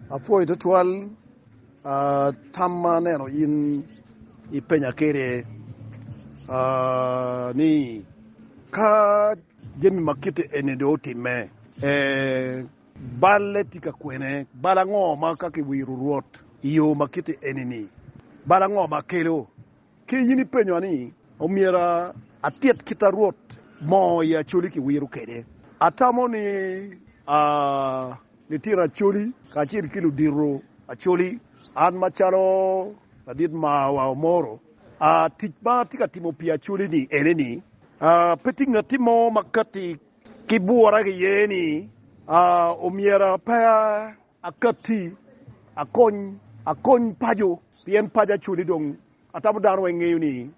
Apwoyo twatwal tam ma aneno in ipenya kwede ni, Ka jami ma kite eni dong otimme, balle tye ka kwene? Bal ango ma ka kiwiro Rwot i yo ma kite eni-ni, bal ango ma kelo? Ki in ipenyowa ni, Omyero atit kit a Rwot mo i Acholi ki wiro kede? Atamo ni a litino Acholi kacel ki ludito Acholi, an macalo ladit maa wa Omoro, a tic ma atye ka timo pi Acholi ni ene ni, a pe tye ngatti mo ma katti ki bwura ki ye ni a omyero a pe a. Akatti, akony, akony paco, pien paco acodi dong atamo dano weng ngeyo ni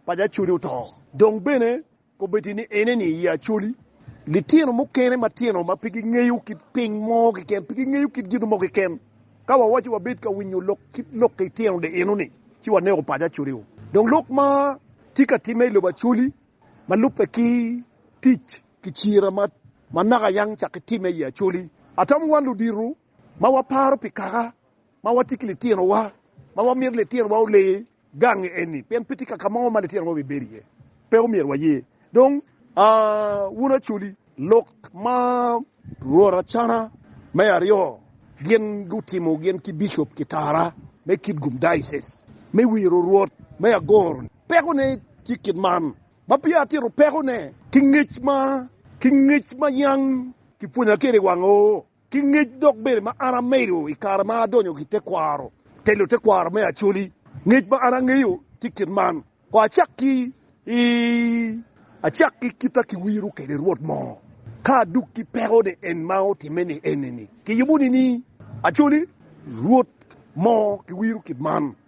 paco acodi oto. Dong bene kobeti ni eneni i acoli. Litino mukene matino ma pe gingeyo kit piny mo keken, pe gingeyo kit gin mo keken. Ka wawaco wabed ka winyo lok kit lok litino di enoni, ci waneko paco acodi-u. Dong lok ma tye ka timme i lobo acoli ma lubbe ki tic. ki cira ma manaka a yang cakki timme i Acholi. Atamo wan ludito ma waparo pi kaka ma watye ki litinowa ma wamito litinowa ole gangi eni pien pe tye kaka mo ma litinowa obibedo iye. Pe omyero waye. Dong, a wun Acholi, lok ma rwot Acana me Aryo gin gutimo gin ki bicop Kitara me Kitgum Diocese me wiro rwot me Agoro-ni peko ne tye kit man, ma peya atito pekone, ki ngec ma ki ngec ma yam kipwonya kwede i wang oo, ki ngec dok bene ma an amedo i kare ma adonyo ki tekwaro, telo tekwaro me Acholi, ngec ma an angeyo tye kit man, Kono acak ki i acak ki kit a kiwiro kwede Rwot moo, ka aduk ki pekone en ma otimme ni enini, kiyubo ni ni, Acholi, Rwot moo kiwiro kit man.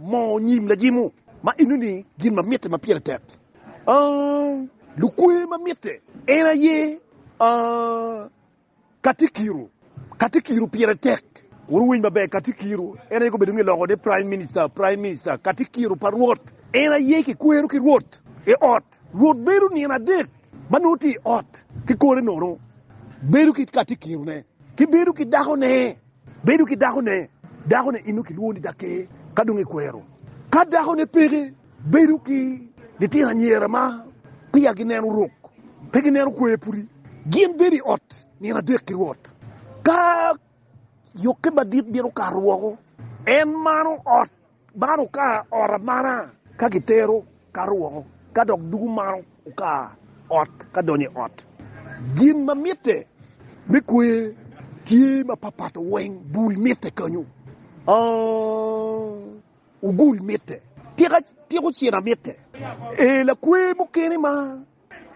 Moo nyim lajimwu ma enoni gin ma mitte ma pire tek aa, lukwe ma mitte en aye aa, Katikiro, Katikiro pire tek. Kur wuwiny maber, Katikiro en aye gubedo nge loko ni Prime Minister, Prime Minister, Katikiro pa Rwot en aye kikwero ki Rwot i ot. Rwot bedo nino adek ma nongo tye i ot ki kore nono, bedo ki Katikirone ki bedo ki dakone Bedo ki dakone. Dakone eno kilwongo ni daker ka dong ekwero. Ka dakone peke, bedo ki litino anyira ma peya gineno rok, pe gineno kwer pudi. Gin bedo i ot nino adek ki rwot. Ka yokke madit bino kato woko, en mano ot. Man okar ot amana ka kitero kato woko, ka dok dugo man okar ot ka donyo i ot. Gin ma mitte me kwer tye ma papato weng, bul mitte kanyo, ogul mitte, tiko cina mitte. Ee, lakwer mukene ma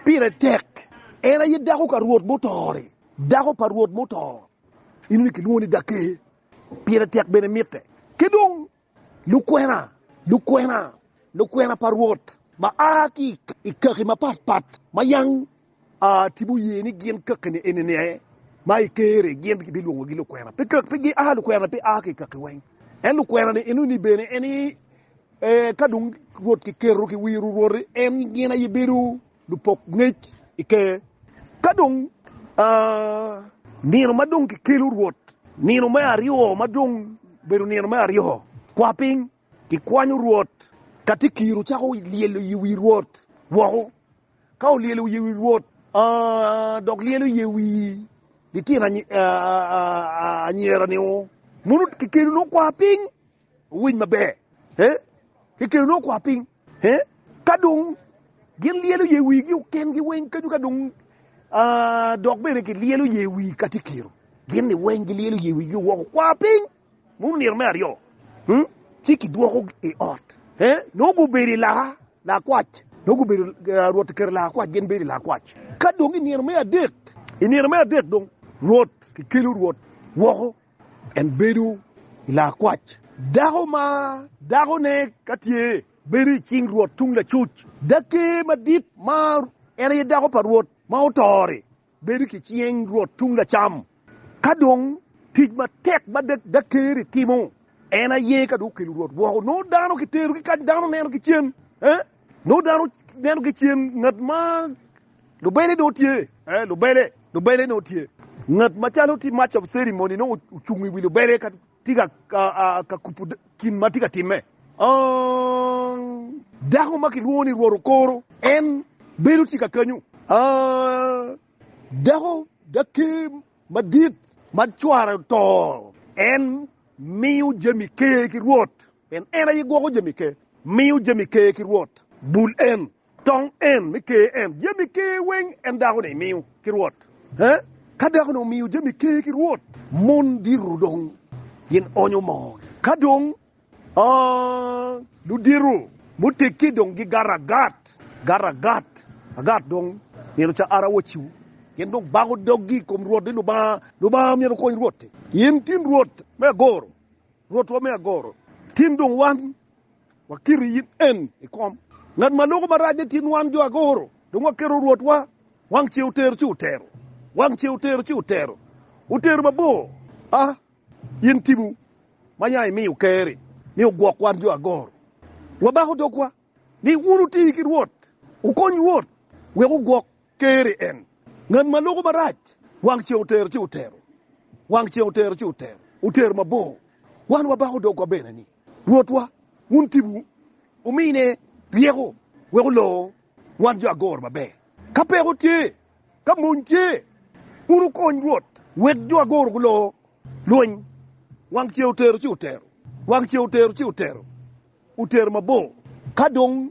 pire tek en aye dako ka Rwot muto-ri, dako pa Rwot muto, eno ni kilwongo ni Dake, Pire tek bene mitte. Ki dong, lukwena, lukwena, lukwena pa Rwot ma a ki i kaki mapat pat ma yang a ti guye ni gin kakine eni ni aye ma i Ker-ri gin kibilwongogi lukwena, pe kaki, pe gia lukwena, pe a ki i kaki weng. En lukwena-ni enoni bene en aye, ee, ka dong Rwot kiketo ki wiro Rwot-ri, en gin aye bedo. lupok ngec i Ker. Ka dong nino ma dong kikelo Rwot, nino me aryo ma dong bedo nino me aryo kwa piny, kikwanyo Rwot. Ka tye kiro cako lyelo i wi Rwot woko, ka olyelo wiye i wi Rwot, dok lyelo iye wi litino anyira-ni, mono kikelo nongo kwa piny owiny maber. Ka dong gin lyelo ye wigi oken gi weng kenyo ka dong dok bene ki lyelo ye wi ka ti kiro gin ni weng gi lyelo ye wigi woko kwa piny mu nito me aryo ci ki dwoko i ot no gu bedo i laka lakwac no gu bedo Rwot oketo lakwac gin bedo i lakwac ka dong i nino me adek i nino me adek dong Rwot ki kelo Rwot woko. En bedo i laa kwac. Dako ma dakone ka tye bedo i cing rwot tung lacuc. Dake madit ma en aye dako pa rwot ma oto-ri bedo ki cing rwot tung lacam. Ka dong tic matek ma dake-ri timo en aye ka dong okelo rwot woko, nongo dano kitero ki kany, dano neno ki cen, nongo dano neno ki cen ngat ma. Lubele nongo tye, ee, lubele, lubele nongo tye. Ngat macalo ti Master of Ceremony nongo ocung i wi lubele ka ti ka, ka, ka kupu kin ma ti ka timme. Aang! Dako ma kilwongo ni Rwot okoro, en bedo tika kanyu? Aang! Dako, daker madit ma cware oto, en miyo jami ker ki Rwot, pien en aye gwoko jami ker. Miyo jami ker ki Rwot. Bul en. Tong en me ker en jami ker weng en dako ni miyo ki rwot he? Ka dako ni omiyo jami ker ki rwot, mon diro dong gin onyo moo gi. Ka dong ludiro muteggi dong gi gato agat, gato agat agat dong myero ca ara waciu gin dong bako dog gi ikom rwot ni Lubanga, Lubanga myero okony rwot ni in tin rwot me agoro, rwot wa me agoro tin dong wan. Wakiri in en i kom. Ngat ma loko marac i kin wan jo agoro, dong waketo Rwotwa. Wang ce otero ci otero, wang ce otero ci otero, otero mabor. A! In Timu ma ya imiyo Ker-ri ni ogwok wan jo agoro, wabako dogwa ni wun wuti ki Rwot, wukony Rwot wek ogwok Teri en. Ngat ma loko marac. Wang ceng otero ci otero. Wang ceng otero ci otero. Otero mabor. Wan wabako dogwa bene ni, Rwotwa, wun tibu, wumine ryeko wek olor wan jo agoro maber. Ka peko tye, ka mony tye, wun wukony Rwot wek jo agoro gulor lweny. Wang ceng otero ci otero. Wang ceng otero ci otero. Otero mabor. Ka dong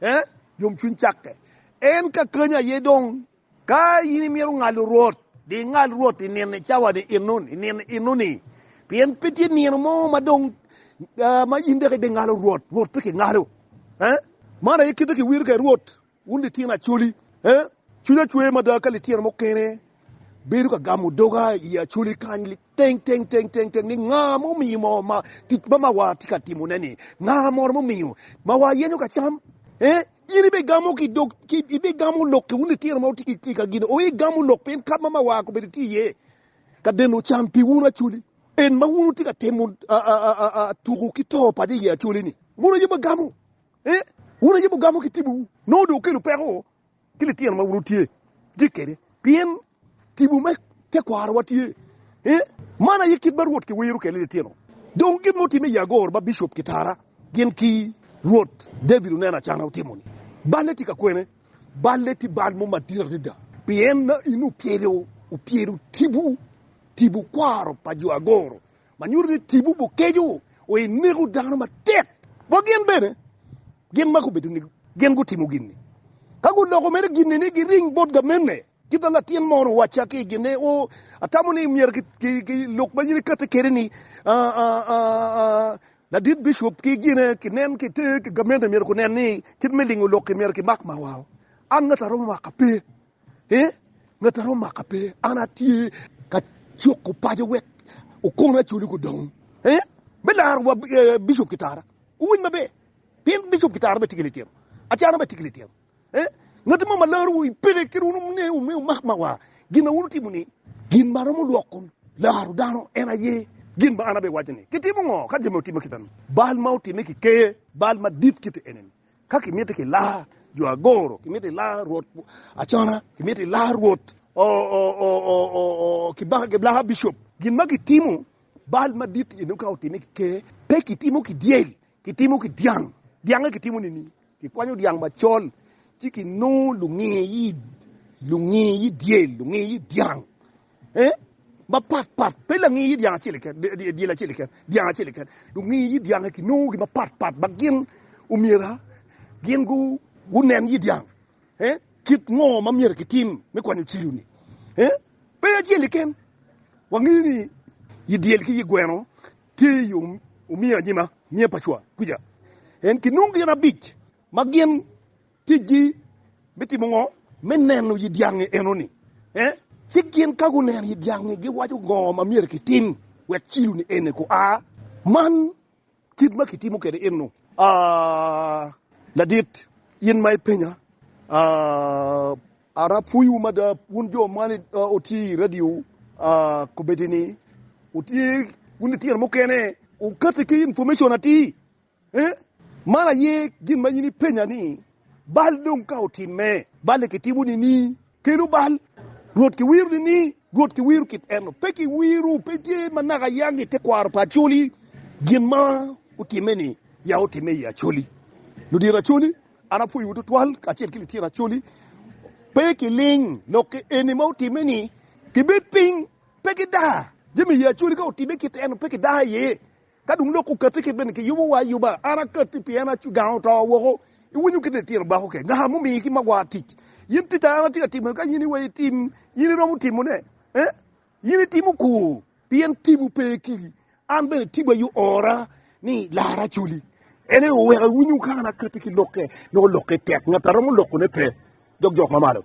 Eh, yomcwiny cakke. En ka kany aye dong. Ka in imito ngalo Rwot, di ingal Rwot i nino-ni, cawa-ni, eno-ni, i nino eno-ni. Pien pe tye nino mo ma dong ma in dok ibingalo Rwot. Rwot pe kingalo. Eh, man aye kite kiwiro kwede Rwot, wun litino acholi. Eh, cwinya cwer mada ka litino mukene bedo ka gamo doga i acholi kany. Teng, teng, teng, teng, teng, ni nga ma omiyo mo ma tic ma mawa tye ka timo ne ni? Nga moro ma omiyo mawa yenyo ka cam? Eh, in ibe gamo ki dog, ki ibe gamo lok ki un litino ma wutye ki ka gino, oye gamo lok pien kap ma mawa kobedo tye iye ka deno cam pi un acholi. En ma un wutye ka temo a, a, a, a, a tuku ki to paco iye acholi ni, un aye ma gamo. Eh, un aye ma gamo ki tibu wu. Nongo dong okelo peko ki litino ma wun wutye ki kwede, pien tipo me tekwarowa tye i man aye kit ma Rwot kiwiro kwede litino. Dong gin ma otimme i Yagur ma bicop kitara gin ki Rwot David oneno acana otimo-ni. Balle tye ka kwene? Balle tye bal mo madit adada, pien in opyelo opyelo tipo tipo kwaro pa jo agoro. ma nyuto ni tipo bukeco wa i neko dano matek bot gin bene. Gin ma gubedo ni gin gutimo gin-ni, ka guloko mere gin-ni ni giring bot gamenne, kit ma latin mono owacca ki i gin-ne, O, atamo ni myero lok ma in ikatte kwede ni, ladit bicup ki gine kinen ki te gamenne myero gunen ni kit me lingo lok-ki myero kimak mawao. An ngati aromo maka? Pe! Ee, ngat a romo maka pe, an atye ka cuko paco wek okono acoli gudong. Ee, me laro wa bicop ki tara, wuwiny maber, pien bicop ki tara bene tye ki litino, acana bene tye ki litino. Ee, ngat mo ma larowu i pele kit wun wume wumak ma wa gin ma wun wutimo ni. Gin ma romo lwoko laro dano en aye gin ma an abiwaco ni, Kitimo ngo ka gin ma wutimo kit-ta-ni? Bal ma otime ki ker, bal madit kite ene-ni, Ka kimiti ki laa jo agoro, kimiti ki laa rwot acona, kimiti ki laa rwot ki laa bicop. Gin ma kitimo bal madit i nongo ka otime ki ker, pe kitimo ki dyel, kitimo ki dyang. Dyangnge kitimo nining? Kikwanyo dyang macol ci kinongo lunge i lunge i dyel, lunge i dyang. mapatpat, pe langi yit dyang acel keken, dyel acel keken, dyang acel keken. Lungi yit dyangi kinongogi mapatpat ma gin omyera gin gunen yit dyang kit ngo ma myero kitim me kwanyo cilo-ni. Pe acel keken. Wangeyo ni yit dyel ki yit gweno tye i yo omiyo anyima, miya pa cwa kuca. En kinongo gin abic ma gin Ticgi me timo ngo? Me neno yi dyangi enoni. Eh? Ci gin ka guneno yi dyangi, giwaco ngo ma myero kitim wek cilo-ni eni gua. Man kit ma kitimo kwede eno. Ah, ladit, in ma ipenya, ah, ara pwoyiwu mada, wun jo ma wutye i radio, ah, kobeddi-ni, wutye, wun litino mukene, wukati ki information atir. Ee, man aye gin ma in ipenya ni, Bal dong ka otimme? Balle kitimo nining? Kelu bal. Rwot kiwiro nining? Rwot kiwiro kit eno. Pe kiwiro, pe tye ma naka yang i tekwaro pa Acholi. Gin ma otimme-ni, ya otimme i Acholi. Ludito Acholi, an apwoyowu twatwal, kacel ki litino Acholi. Pe kiling lok ki eni ma otimme-ni. Kibed piny, pe kidaa. Jami i Acholi ka otimme kit eno, pe kidaa iye. Ka dong lok okatti kit bene kiyubo wa ayuba, an akatti pien acu gang oto woko. Iwinyo kit litino bako ke ngaka mumiyi ki magwar tic. Yin tic a an atye ka timo ni ka yin iweyo itim, yin iromo timo ne? Eh? Yin itimo kor pien tipo pe kiri. An bene tipo aye oora ni lara acoli. En aye oweko iwinyo kaka an akatti ki lokke, nongo lokke tek, ngat a romo loko ne pe, dog jok mamalo.